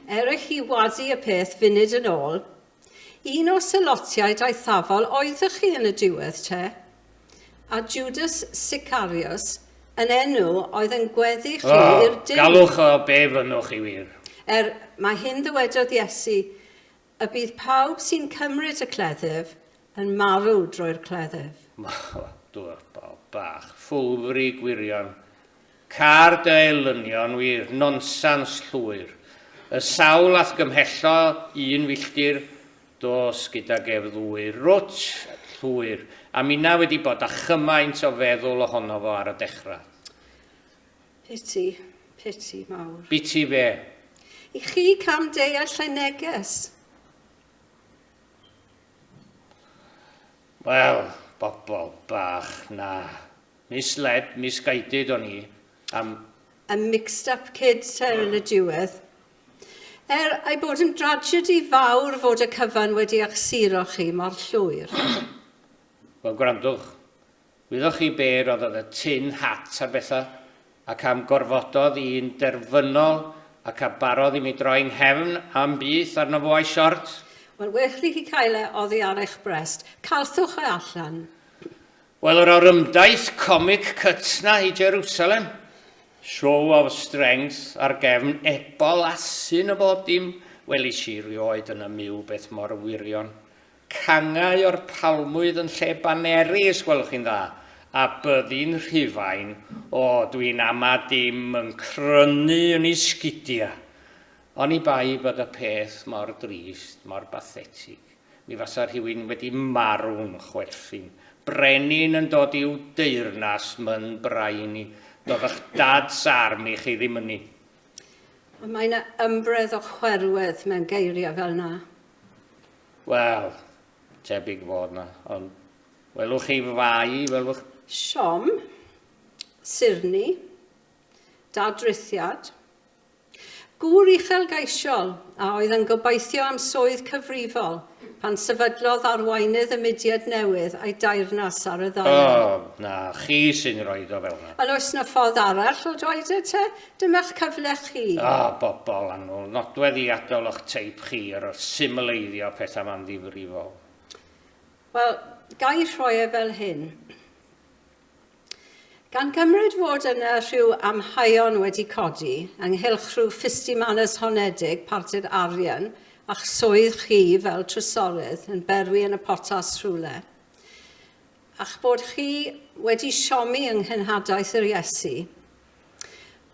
er i chi wadu y peth funud yn ôl, Un o selotiaid aethafol oeddech chi yn y diwedd, te? A Judas Sicarius yn enw oedd yn gweddu chi O, i'r duw? galwch o be fynnwch chi wir. Er, mae hyn ddywedodd Iesu, Y bydd pawb sy'n cymryd y cleddyf yn marw drwy'r cleddyf. Mawr, dŵr, bol bach, ffwlfri gwirion, Car dy elynion wyf, nonsans llwyr. Y sawl a'th gymhello un filltir, dos gydag ef ddwyr. Rwtsh! Llwyr! A minna wedi bod â chymaint o feddwl ohono fo ar y dechrau. Piti, piti mawr. Biti fe. I chi cam deall lle neges? Wel, bobl bach, na. Misled, misguided o'n i am... A mixed up kid, te, yn y diwedd. Er ei bod yn dragedy fawr fod y cyfan wedi ych suro chi mor llwyr. Wel, gwrandwch. Wyddoch chi be roddodd y tin hat ar Betha? Ac am gorfododd i'n derfynol ac a barodd i mi droi 'nghefn a'm byth arno fo a'i siort? Wel, wech i chi cael e oddi ar eich brest. Calthwch e allan. Wel, yr orymdaith comic cytna i Jerusalem, show of strength ar gefn ebol asyn y bob dim, welis i rioed yn y myw beth mor wirion. Cangau o'r palmwydd yn lle baneri, os gwelwch chi'n dda, a byddi'n Rhufain, o, dwi'n ama dim yn crynu yn ei sgidia. Oni bai bod y peth mor drist, mor bathetig. Mi fasa rhywun wedi marw'n chwerthin. Brenin yn dod i'w deyrnas, myn braini. Dodd ych dad's army chi ddim ynni. Ond mae 'na ymbredd o chwerwedd mewn geiriau fel 'na. Wel, tebyg fod 'na, ond welwch chi fai, welwch... Siom, sirni, dadrithiad, Gŵr uchelgeisiol, a oedd yn gobeithio am swydd cyfrifol, pan sefydlodd arweinydd y mudiad newydd a'i dairnas ar y ddaear. O, na chi sy'n rhoi o fel 'na. Ond oes 'na ffordd arall o droed e te? Dyma'ch cyfle chi. O, bobol annwl, nodweddiadol o'ch teip chi ar symleiddio pethau 'ma'n ddifrifol. Wel, ga i rhoi e fel hyn. Gan gymryd fod yna rhyw amheuon wedi codi ynghylch rhyw ffistimanys honedig parti'r arian a'ch swydd chi fel trysorydd yn berwi yn y potas rhywle, a'ch bod chi wedi siomi yng nghynhadaeth yr Iesu,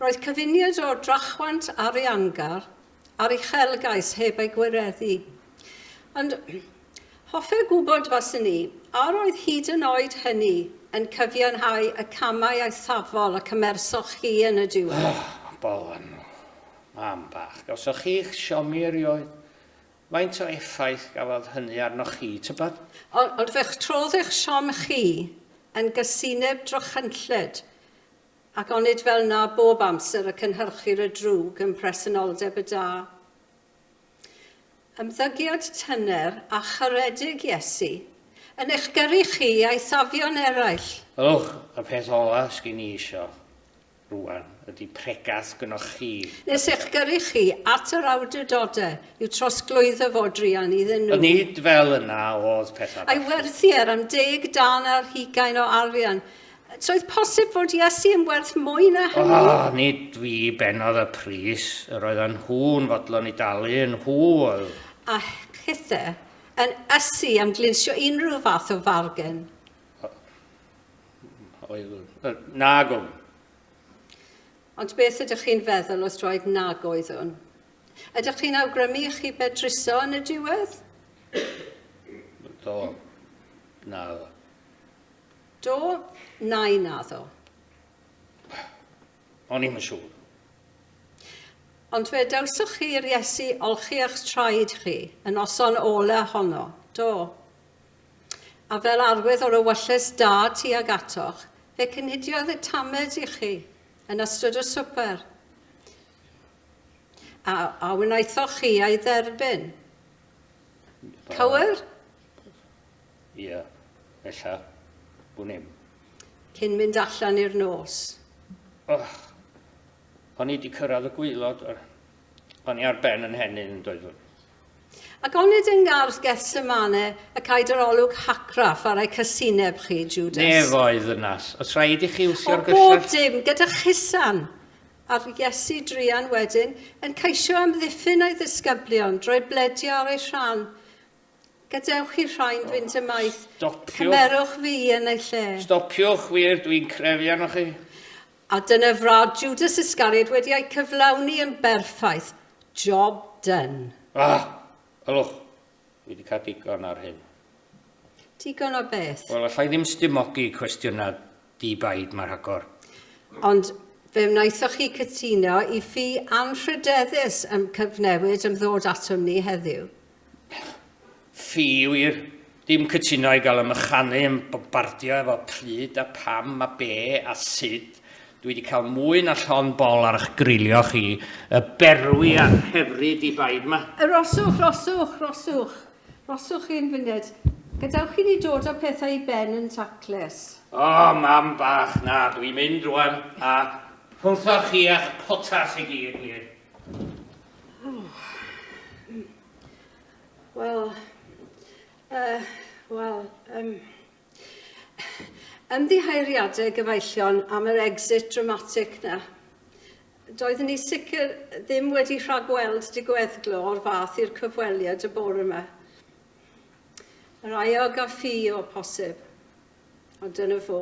Roedd cyfuniad o drachwant ariangar a'r uchelgais heb ei gwireddu. Ond hoffai gwybod, faswn i, a roedd hyd yn oed hynny yn cyfiawnhau y camau eithafol y cymersoch chi yn y diwedd? Bowen, Mam bach, gawsoch chi'ch siomi erioed. Faint o effaith gafodd hynny arnoch chi, tybed? Ond fe'ch trodd eich siom chi yn gysineb drychinllyd, Ac onid fel 'na bob amser y cynhyrchir y drwg yn mhresenoldeb y da? Ymddygiad tyner a charedig Iesu yn eich gyrru chi a'i safio'n eraill. Ych, y peth ola' sgin i isio, rŵan, ydi pregeth gynnoch chi, Mister. Nes eich gyrru chi at yr awdurdode i'w trosglwyddo fo druan iddyn nhw. Ond nid fel yna o'dd pethau, bachgen. A'i werthu ar am deg darn ar hugain o arian, Troedd posib fod Iesu yn werth mwy na hynny? O, nid fi benodd y pris, yr oedd yn nhw'n fodlon i dalu, yn nhw oedd. A chithe, yn ysu am glinsio unrhyw fath o fargen. Oedd, nag o'n. Ond beth ydych chi'n feddwl os droed nag oeddwn? Ydych chi'n awgrymu i chi bedruso yn y diwedd? Do. Na. Do, nai naddo. O'n i'm yn siŵr. Ond fe dawsoch chi i'r Iesu olchi a'ch traed chi yn noson ola honno, do. A fel arwydd o'r ewylles da tuag atoch, fe cynhidiodd y tamed i chi yn ystod y swper. A, a wnaethoch chi ei dderbyn. Cywir? Ia, ella bwn i'm. Cyn mynd allan i'r nos. Oh, o'n i di cyrraedd y gwylod, o'n i ar ben yn henyn yn doeddwn. Ac onid yng ngardd Gethsemane y caed yr olwg hacraff ar ei casineb chi, Judas? Nef oedd ddynas. Os rhaid i chi wsio'r gyllell... O bob dim, gyda chusan! Ar Iesu druan wedyn, yn ceisio amddiffyn ei ddisgyblion, droi bledio ar ei rhan, Gadewch chi rhoi'n fynd ymaith. Stopiwch. Cymerwch fi yn ei lle. Stopiwch wir, dwi'n crefu arnoch chi. A dyna frad Judas Iscariot wedi ei cyflawni yn berffaith. Job done. Ah! Ylwch, dwi wedi cael digon ar hyn. Digon o beth? Wel, allai ddim stimogi cwestiynau di-baid mae rhagor. Ond fe wnaethoch chi cytuno i ffi anrhydeddus ym cyfnewid ymddod atom ni heddiw. Fi wir ddim cytuno i gael ymychanu yn bombardio efo pryd a pam a be a sud, dwi di cael mwy na llon bol ar ych grilio chi, y berwi a'r hefri di baid ma. Aroswch, roswch, roswch, roswch hen fyned, gadewch i ni dod â pethau i ben yn taclus. O, mam bach, na, dwi'n mynd rwan, a rhwnthoch chi a'ch potas i gyd wir. Wel, uh, wel, um, ymddiheiriadau gyfaillion am yr exit dramatic na. Doeddwn ni sicr ddim wedi rhagweld digweddglo o'r fath i'r cyfweliad y bore yma. Yr aiog a ffi o posib, ond dyna fo.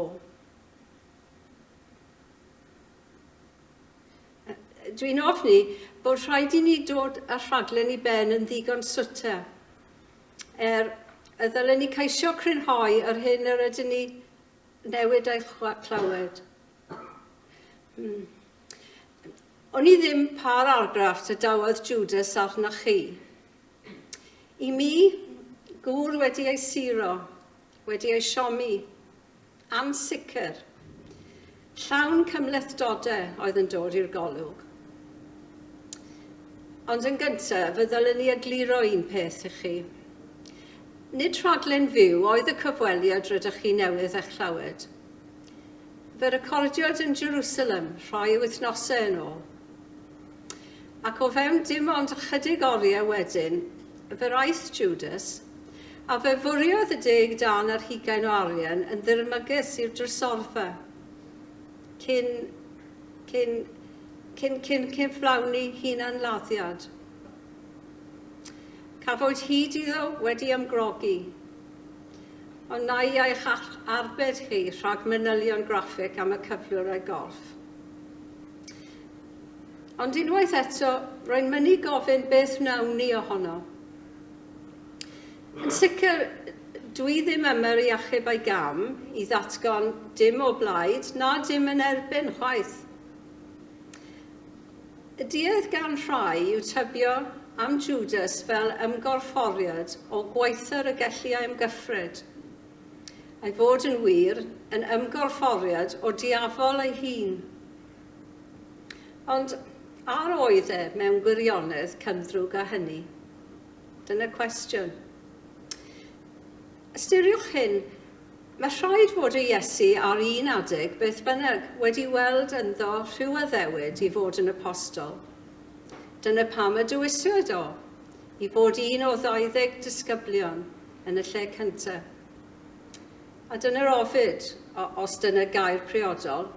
Dwi'n ofni bod rhaid i ni dod â rhaglen i ben yn ddigon swter. Er y ddylen ni ceisio crynhoi yr hyn yr ydyn ni newid a'i chlywed. Hmm. O'n i ddim pa'r argraff y dawodd Judas arnoch chi. I mi, gŵr wedi ei siro, Wedi ei siomi. Ansicr. Llawn cymhlethdode oedd yn dod i'r golwg. Ond yn gynta, fe ddylwn i egluro un peth i chi. Nid rhaglen fyw oedd y cyfweliad rydych chi newydd eich llawed. Fe recordiwyd yn Jerusalem rhai wythnosau yn ôl. Ac o fewn dim ond ychydig oriau wedyn, fe wraith Jwdas, a fe fwriodd y deg dân a'r hugain o arian yn ddirmygus i'r drysorfa, cyn, cyn, cyn, cyn cyflawni hunan-laddiad. Cafwyd hyd iddo wedi ymgrogi, ond na i eich arbed chi rhag manylion graffig am y cyflwr a'i gorff. Ond unwaith eto, rwy'n mynnu gofyn beth wnawn ni ohono. Yn sicr, dwi ddim yma'r i achub a'i gam, i ddatgan dim o blaid na dim yn erbyn chwaith. Y duedd gan rhai yw tybio am Jwdas fel ymgorfforiad o gwaethyr y gelli a ymgyffred, a'i fod yn wir, yn ymgorfforiad o diafol ei hun. Ond, a oedd e mewn gwirionedd cymddrwg â hynny? Dyna'r cwestiwn. Ystyriwch hyn, mae rhaid fod y Iesu ar un adeg, beth bynnag, wedi weld ynddo rhyw addewid i fod yn apostol. Dyna pam y dewiswyd o, i fod un o ddauddeg disgyblion yn y lle cyntaf. A dyna'r ofid, os dyna gair priodol,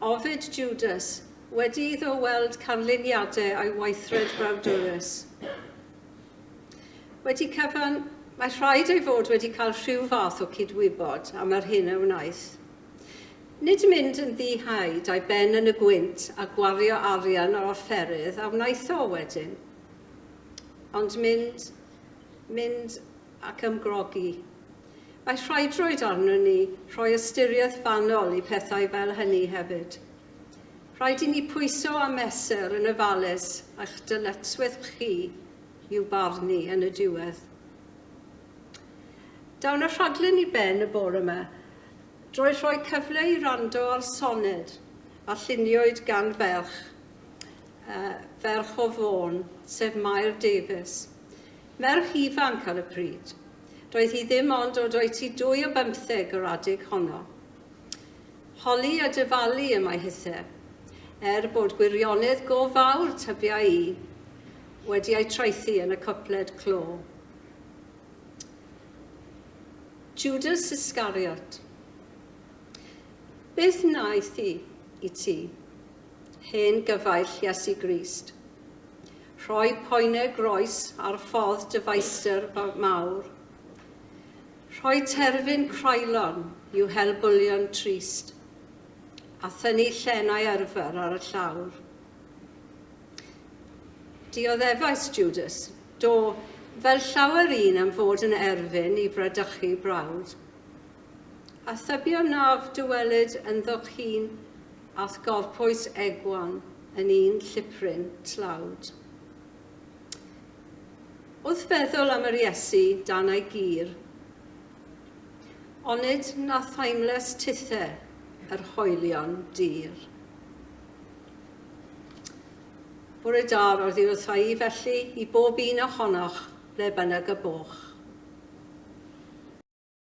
ofid Jwdas, wedi iddo weld canlyniadau ei weithred brawdwrus. Wedi cyfan, mae rhaid ei fod wedi cael rhyw fath o cydwybod am yr hyn a wnaeth. Nid mynd yn ddi-haid a'i ben yn y gwynt a gwario arian ar offerydd a wnaeth o wedyn, ond mynd, mynd ac ymgrogi. Mae rhaidrwydd arnon ni rhoi ystyriaeth fanwl i phethau fel hynny hefyd. Rhaid i ni pwyso a mesur yn ofalus eich dyletswydd chi i'w barnu yn y diwedd. Dawn y rhaglen i ben y bore yma drwy rhoi cyfle i rando ar soned a lluniwyd gan ferch, uh, ferch o Fôn, sef Mair Davies. Merch ifanc ar y pryd. Doedd hi ddim ond dod o'i tŷ dwy o bymtheg yr adeg honno. Holi a dyfalu y mae hithe. Er bod gwirionedd go fawr tybiai i, wedi ei traethu yn y cwpled clo. Judas Iscariot. Beth wnaeth hi i ti? Hen gyfaill Iesu Grist. Rhoi poenau groes ar ffordd dyfeisdr mawr. Rhoi terfyn croelon i'w hel bwlion trist, a thynnu llenau arfer ar y llawr. Dioddefais Judas, do, fel llawer un am fod yn erfyn i fradychu brawd. A thybio naf dywelyd ynddo chyn a'th gorpwys egwan yn un llipryn tlawd. Wrth feddwl am yr Iesu dan ei gur, onid na thaimles tithe yr hoelion dir? Bore da, roddi wrtha i felly i bob un ohonoch, ble bynnag y boch.